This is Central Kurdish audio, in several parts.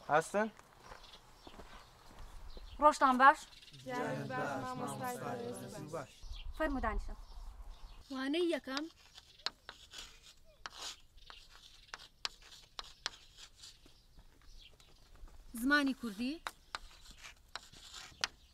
هەستن؟ ڕۆشتان باش؟ فەرمودانیشە وانەی یەکەم زمانی کوردی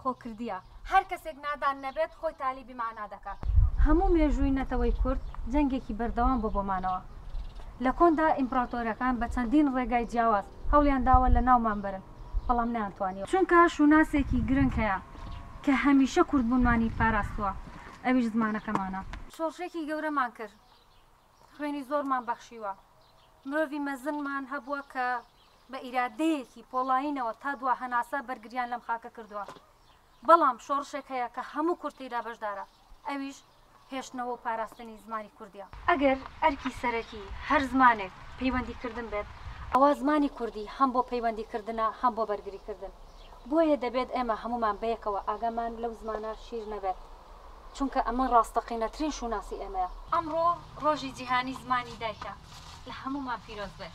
خۆ کردیە هەر کەسێک نادان نەبێت خۆی تالیبی مانا دەکات. هەموو مێژووی نەتەوەی کورد جەنگێکی بەردەوام بووە بۆ مانەوە. لە کۆندا ئیمپڕاتۆرەکان بە چەندین ڕێگای جیاواز هەوڵیان داوە لە ناومان بەرن بەڵام نەیانتوانیوە. چونکە شوناسێکی گرنگ هەیە کە هەمیشە کوردبوونمانی پاراستووە ئەویش زمانەکەمانە. شۆڕشێکی گەورەمان کرد. خوێنی زۆرمان بەخشیوە، مرۆڤی مەزنمان هەبووە کە بە ئیرادەیەکی پۆڵایینەوە تا دوا هەناسە بەرگرییان لەم خاکە کردووە، بەڵام شۆڕشێک هەیە کە هەموو کورد تێیدا بەشدارە، ئەویش هێشتنەوە و پاراستنی زمانی کوردییە. ئەگەر ئەرکی سەرەکی هەر زمانێک پەیوەندیکردن بێت، ئەوا زمانی کوردی هەم بۆ پەیوەندیکردنە هەم بۆ بەرگریکردن، بۆیە دەبێت ئێمە هەموومان بەیەکەوە ئاگامان لەو زمانە شیر نەبێت، چونکە ئەمە ڕاستەقینەترین شوناسی ئێمەیە. ئەمڕۆ ڕۆژی جیهانی زمانی دایکە، لە هەموومان پیرۆز بێت.